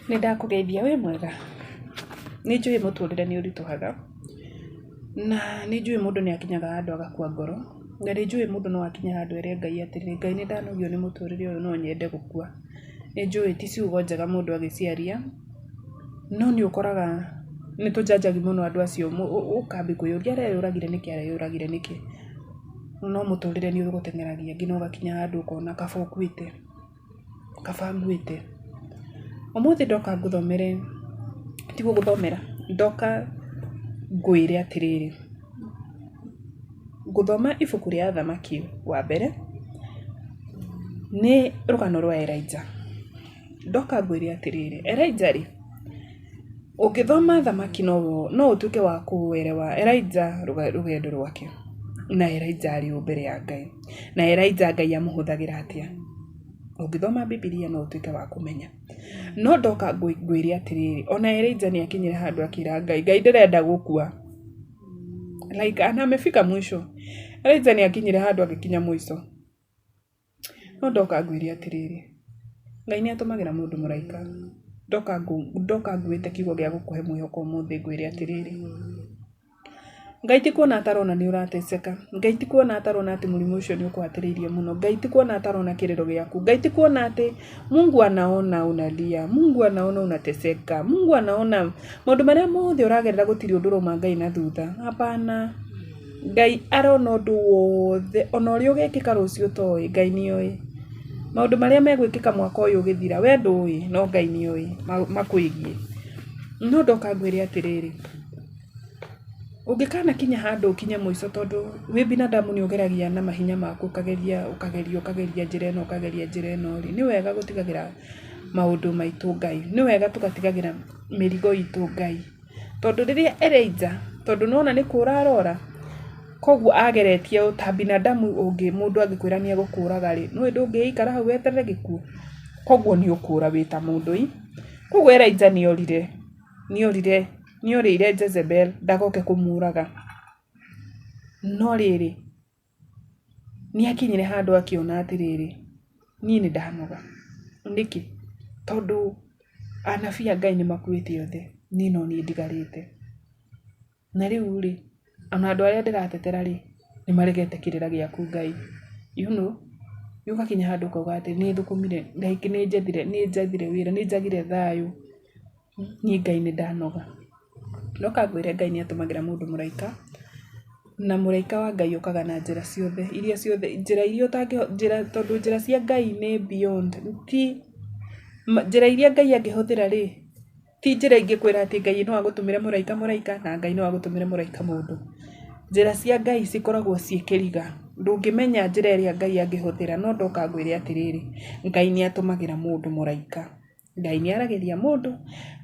Nĩndakũgeithia, wĩ mwega? Nĩnjũĩ mũtũrĩre nĩũritũhaga, na nĩnjũĩ mũndũ nĩakinyaga handũ agakua ngoro, na nĩnjũĩ mũndũ no akinye handũ ere Ngai atĩrĩ, Ngai nĩndanogio nĩ mũtũrĩre ũyũ no nyende gũkua. Nĩnjũĩ ti ciugo njega mũndũ agĩciaria, no nĩũkoraga nĩtũjanjagu mũno andũ acio ũkambia kwĩyũria areyũragire nĩkĩ areyũragire nĩkĩ? No mũtũrĩre nĩũgũteng'eragia nginya ũgakinya handũ ũkona kaba ũkuĩte. kaba ngwĩte. Ũmũthĩ ndoka ngũthomere, ti gũgũthomera, ndoka ngwĩre atĩrĩrĩ, ngũthoma ibuku rĩa Athamaki wa Mbere, nĩ rũgano rwa Elijah. Ndoka ngwĩre atĩrĩrĩ, Elijah rĩ, Ũngĩthoma thamaki no ũtuĩke wa kũerewa Elijah rũgendo rwake, na Elijah arĩ ũũ mbere ya Ngai, na Elijah Ngai amũhũthagĩra atĩa. Ũngĩthoma Bibilia no ũtuĩke wa kũmenya. No ndoka ngwĩre atĩrĩrĩ, ona Elijah nĩ akinyire handũ akĩra Ngai, Ngai ndĩrenda gũkua. Like amefika mwisho. Elijah nĩ akinyire handũ agĩkinya mũico. No ndoka ngwĩre atĩrĩrĩ, Ngai nĩ atũmagĩra mũndũ mũraika. Ndoka ndoka nguĩte kiugo gĩa gũkũhe mwĩhoko ũmũthĩ ngwĩre atĩrĩrĩ, Ngai ti kuona atarona nĩ ũrateseka. Ngai ti kuona atarona atĩ mũrimũ ũcio nĩ ũkũhatĩrĩirie mũno. Ngai ti kuona atarona kĩrĩro gĩaku. Ngai ti kuona atĩ, Mungu anaona unalia, Mungu anaona unateseka, Mungu anaona maũndũ marĩa mothe ũragerera gũtirĩ ũndũ ũrauma Ngai na thutha. Hapana. Ngai arona ũndũ wothe, o na ũrĩa ũgekĩka rũciũ ũtoĩ, Ngai nĩ oĩ. Maũndũ marĩa megwĩkĩka mwaka ũyũ ũgĩthira, we ndũĩ, no Ngai nĩ oĩ makwĩgiĩ. No ndoka ngwĩre atĩrĩrĩ, ũngĩkanakinya handũ ũkinye mũico tondũ wĩ binadamu nĩ ũgeragia na mahinya maku ũkageria, ũkageria, ũkageria njĩra ĩno, ũkageria njĩra ĩno rĩ, nĩ wega gũtigagĩra maũndũ maitũ Ngai. Nĩ wega tũgatigagĩra mĩrigo itũ Ngai. tondũ rĩrĩa ĩrĩ nja, tondũ nĩ wona nĩ kũũra arora, kwoguo ageretie ũũ, ta binadamu ũngĩ mũndũ angĩkwĩra nĩ egũkũũraga rĩ, nĩ ũĩ ndũngĩgĩikara hau weterere gĩkuũ? Kwoguo nĩ ũkũũra wĩ ta mũndũ ii. Kwoguo Elijah nĩ orire, nĩ orire, nĩ orĩire Jezebel ndagoke kũmũũraga. No rĩrĩ... Nĩ akinyire handũ akĩona atĩrĩrĩ, niĩ nĩ ndanoga. Nĩkĩ? Tondũ anabii a Ngai nĩ makuĩte othe, niĩ no niĩ ndigarĩte. Na rĩu rĩ, o na andũ arĩa ndĩratetera rĩ, nĩ maregete kĩrĩra gĩaku Ngai. You know? Rĩu ũgakinya handũ ũkauga atĩ nĩ njethire wĩra, nĩ njagire thayũ. niĩ Ngai nĩ ndanoga. Ndoka ngwĩre Ngai nĩ atũmagĩra mũndũ mũraika, na mũraika wa Ngai okaga na njĩra ciothe, iria ciothe, njĩra iria ũtangĩhota, njĩra, tondũ njĩra cia Ngai nĩ beyond, ti, njĩra iria Ngai angĩhũthĩra rĩ, ti njĩra ingĩkwĩra atĩ Ngai no agũtũmĩre mũraika mũraika na Ngai no agũtũmĩre mũraika mũndũ. Njĩra cia Ngai cikoragwo ciĩ kĩriga, ndũngĩmenya njĩra ĩrĩa Ngai angĩhũthĩra, no ndoka ngwĩre atĩrĩrĩ, Ngai nĩ atũmagĩra mũndũ mũraika. Ngai nĩ aragĩria mũndũ,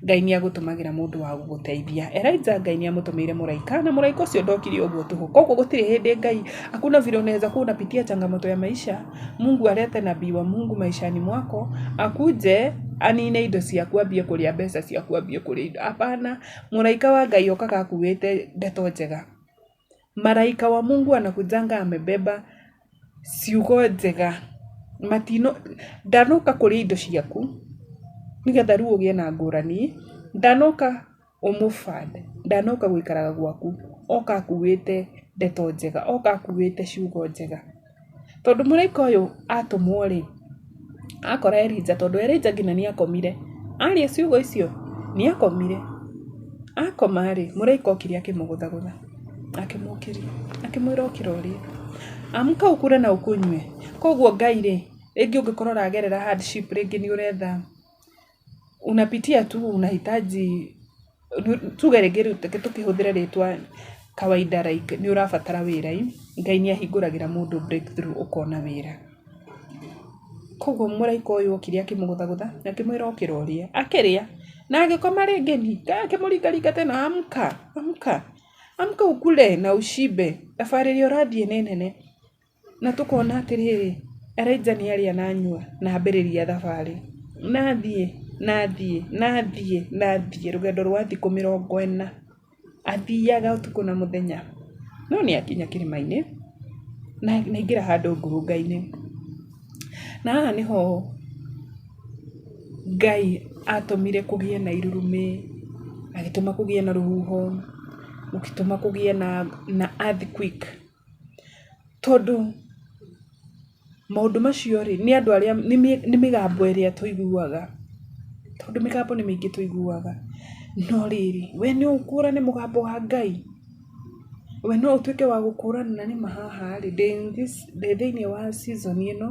Ngai nĩ agũtũmagĩra mũndũ wa gũgũteithia. Elijah Ngai nĩ amũtũmĩire mũraika na mũraika ũcio ndokire ũguo tũhũ. Kwoguo gũtirĩ hĩndĩ Ngai, hakuna vile unaweza kuwa unapitia changamoto ya maisha, Mungu alete nabii wa Mungu maishani mwako, akuje anine indo ciaku ambie kũrĩa mbeca ciaku ambie kũrĩa indo. Hapana, mũraika wa Ngai okaga akuĩte ndeto njega. Maraika wa Mungu anakujanga amebeba ciugo njega. Matino, ndanoka kũrĩa indo ciaku, nĩgetha rĩu ũgĩe na ngũrani. Ndanoka ũmũbande, ndanoka gũikaraga gwaku, oka akuĩte ndeto njega, oka akuĩte ciugo njega. Tondũ mũraika ũyũ atũmwo rĩ, akora Elija, tondũ Elija nginya nĩ akomire, aria ciugo icio nĩ akomire. Akoma rĩ, mũraika okire akĩmũgũthagũtha, akĩmũkĩria, akĩmwĩra ũkĩra ũrĩe. Amka ũkũre na ũkũnyue. Koguo Ngai rĩ, rĩngĩ ũngĩkorwo ũragerera hardship, rĩngĩ nĩ ũretha, Unapitia tu unahitaji, tuge rĩngĩ rĩu reke tũkĩhũthĩre rĩtwa kawaida like nĩ ũrabatara wĩra ĩ, Ngai nĩ ahingũragĩra mũndũ breakthrough ũkona wĩra. Kwoguo mũraika ũyũ okire akĩmũgũthagũtha na akĩmwĩra okĩra ũrĩe. Akĩrĩa na agĩkoma rĩngĩ ĩ, Ngai akĩmũringaringa tena amka, amka, amka ukule na ushibe, thabarĩ ĩrĩa ũrathiĩ nĩ nene. Na tũkona atĩrĩrĩ, Elija nĩ arĩa na anyua na ambĩrĩria thabarĩ. Na athiĩ, na athiĩ, na athiĩ, na athiĩ, rũgendo rwa thikũ mĩrongo ĩna. Athiaga ũtukũ na mũthenya. No nĩ akinya kĩrĩma-inĩ, na aingĩra handũ ngurunga-inĩ. Na haha nĩho Ngai atũmire kũgĩe na irurumĩ, agĩtũma kũgĩe na rũhuho, gũgĩtũma kũgĩe na earthquake. Tondũ maũndũ macio rĩ, nĩ andũ arĩa, nĩ mĩgambo ĩrĩa tũiguaga. Tondũ mĩgambo nĩ mĩingĩ tũiguaga. No rĩrĩ, we no ũkũrane mũgambo wa Ngai? We no ũtuĩke wa gũkũrana na nĩ ma haha rĩ, ndĩ in this, ndĩ thĩiniĩ wa season ĩno?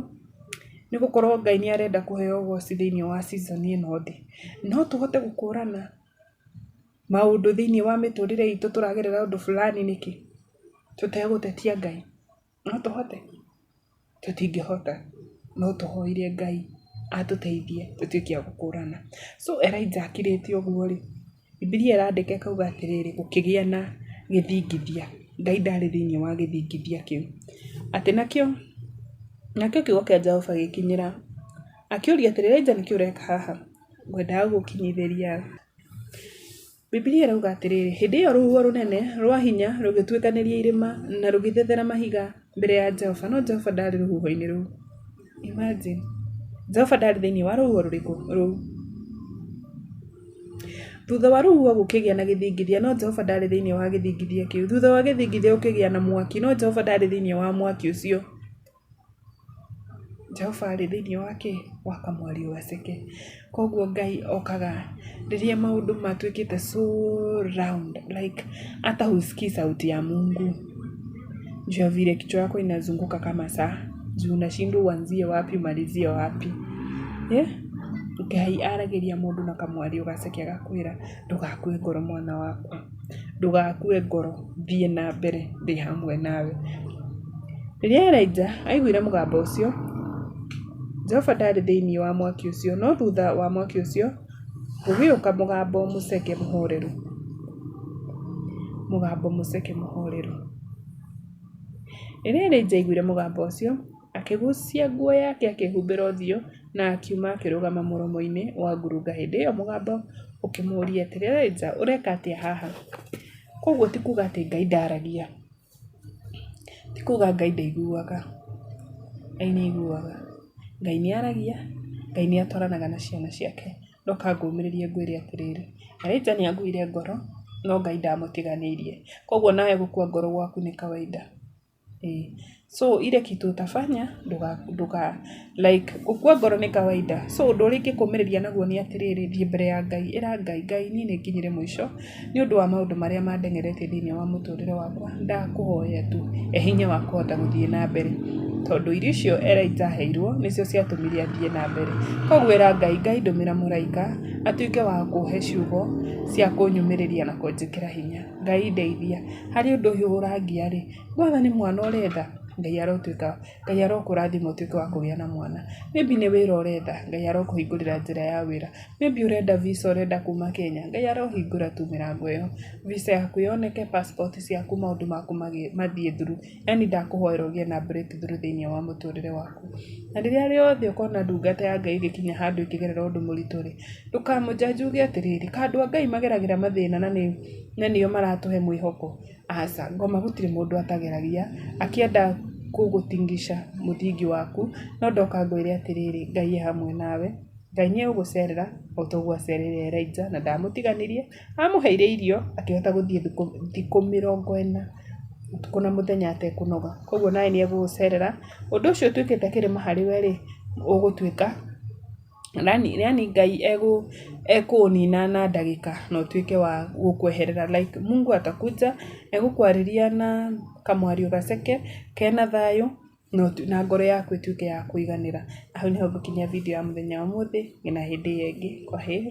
Nĩ gũkorwo Ngai nĩ arenda kũheo ũgooci thĩiniĩ wa season ĩno ndĩ. No tũhote gũkũrana? maũndũ thĩiniĩ wa mĩtũrĩre itũ tũragerera ũndũ fulani nĩkĩ? Tũtegũtetia Ngai. No tũhote? Tũtingĩhota. No tũhoire Ngai atũteithie tũtuĩke a gũkũrana. So Elijah akirĩte ũguo rĩ, Bibilia ĩrandĩka ĩkauga atĩrĩrĩ, gũkĩgĩa na gĩthingithia. Ngai ndarĩ thĩiniĩ wa gĩthingithia kĩu. Atĩ nakĩo, nakĩo kiugo kĩa Jehova gĩgĩkinyĩra, akĩũria atĩrĩ, Elijah nĩkĩ ũreka haha? ngwendaga gũgũkinyithĩria. Bibilia ĩrauga atĩrĩrĩ, hĩndĩ ĩyo rũhuho rũnene rwa hinya rũgĩtuĩkanĩria irĩma na rũgĩthethera mahiga mbere ya Jehova, no Jehova ndarĩ rũhuho-inĩ rũu. Imagine! Jehova ndarĩ thĩinĩ wa rũhuho rũrĩkũ? Rũu. Thutha wa rũhuho gũkĩgĩa na gĩthingithia, no Jehova ndarĩ thĩinĩ wa gĩthingithia kĩu. Thutha wa gĩthingithia gũkĩgĩa na mwaki, no Jehova ndarĩ thĩinĩ wa mwaki ũcio. Jehova arĩ thĩinĩ wa kĩ? Wa kamwariũ gaceke. Kwoguo Ngai okaga rĩrĩa maũndũ matuĩkĩte so round like hata huskii sauti ya Mungu juu ya vile kichwa yako inazunguka kama saa juu unashindwa uanzie wapi umalizie wapi. Ngai aragĩria mũndũ na kamwariũ gaceke agakwĩra ndũgakue ngoro mwana wakwa. ndũgakue ngoro, thiĩ na mbere ndĩ hamwe nawe. Rĩrĩa Elijah aiguire mũgambo ũcio, Jehova ndarĩ thĩinĩ wa mwaki ũcio, no thutha wa mwaki ũcio gũgĩũka mũgambo mũceke mũhoreru, mũgambo mũceke mũhoreru. Rĩrĩa Elijah aiguire mũgambo ũcio... Akĩgucia nguo yake akĩhumbĩra ũthiũ na akiuma akĩrũgama mũromo-inĩ wa ngurunga hĩndĩ ĩyo mũgambo ũkĩmũria atĩrĩ, Elijah ũreka atĩa haha? Kwoguo ti kuuga atĩ Ngai ndaragia, ti kuuga Ngai ndaiguaga, Ngai nĩ aiguaga, Ngai nĩ aragia, Ngai nĩ atwaranaga na ciana ciake, no kaba ngũmĩrĩrie ngwĩre atĩrĩrĩ, Elijah nĩ akuire ngoro no Ngai ndamũtiganĩirie, kwoguo nawe gũkua ngoro gwaku nĩ kawainda. So ile kitu utafanya, nduga, like, gũkua ngoro nĩ kawaida. So ũndũ ũrĩa ingĩkũmĩrĩria naguo nĩ atĩrĩrĩ, thiĩ mbere ya Ngai, ĩra Ngai, Ngai niĩ nĩ nginyĩre mũico, nĩ ũndũ wa maũndũ marĩa mandengeretie thĩinĩ wa mũtũrĩre wakwa, ndakũhoya tu, he hinya wa kũhota gũthiĩ na mbere. Tondũ irio icio Elijah aheirwo, nĩcio ciatũmire athiĩ na mbere. Koguo ĩra Ngai, Ngai ndũmĩra mũraika, atuĩke wa kũhe ciugo cia kũnyũmĩrĩria na kũnjĩkĩra hinya. Ngai ndeithia, harĩ ũndũ ũyũ ũrangia rĩ, wona nĩ mwana ũretha, Ngai arotwĩka, Ngai arokũrathima ũtwĩke wa kũgĩa na mwana, maybe nĩ wĩra ũretha, Ngai arokũhingũrĩra njĩra ya wĩra, maybe ũrenda visa ũrenda kuma Kenya, Ngai arohingũra tu mĩrango ĩyo, visa yaku yoneke, passport ciaku maũndũ maku mathiĩ through. Yaani ndakũhoera ũgĩe na breakthrough thĩinĩ wa mũtũrĩre waku. Na rĩrĩa rĩothe ũkona ndungata ya Ngai ĩgĩkinya handũ ĩkĩgerera ũndũ mũritũ rĩ, ndũkamũ judge uge atĩrĩrĩ, ka andũ a Ngai mageragĩra mathĩna na nĩ, na nĩo maratũhe mwĩhoko. Aca, ngoma gũtirĩ mũndũ atageragia, akĩenda gũgũ tingisha mũthingi waku, no ndoka ngwĩre atĩrĩrĩ, Ngai e hamwe nawe, Ngai nĩ egũgũcerera, o ta ũguo acereire Elijah, na ndamũtiganĩrie. Amũheire irio akĩhota gũthiĩ thikũ mĩrongo ĩna ũtukũ na mũthenya atekũnoga. Kwoguo nawe nĩ egũgũcerera. Ũndũ ũcio ũtuĩkĩte kĩrĩma harĩ we rĩ, ũgũtuĩka yaani Ngai ekũũnina na ndagĩka na ũtuĩke wa gũkweherera like Mungu atakuja na egũkwarĩria na kamwario gaceke kena thayũ na ngoro yaku ĩtuĩke ya kũiganĩra. Hau nĩho ngũkinyia video ya mũthenya wa ũmũthĩ nginya hĩndĩ ĩyo ĩngĩ. Kwaheri.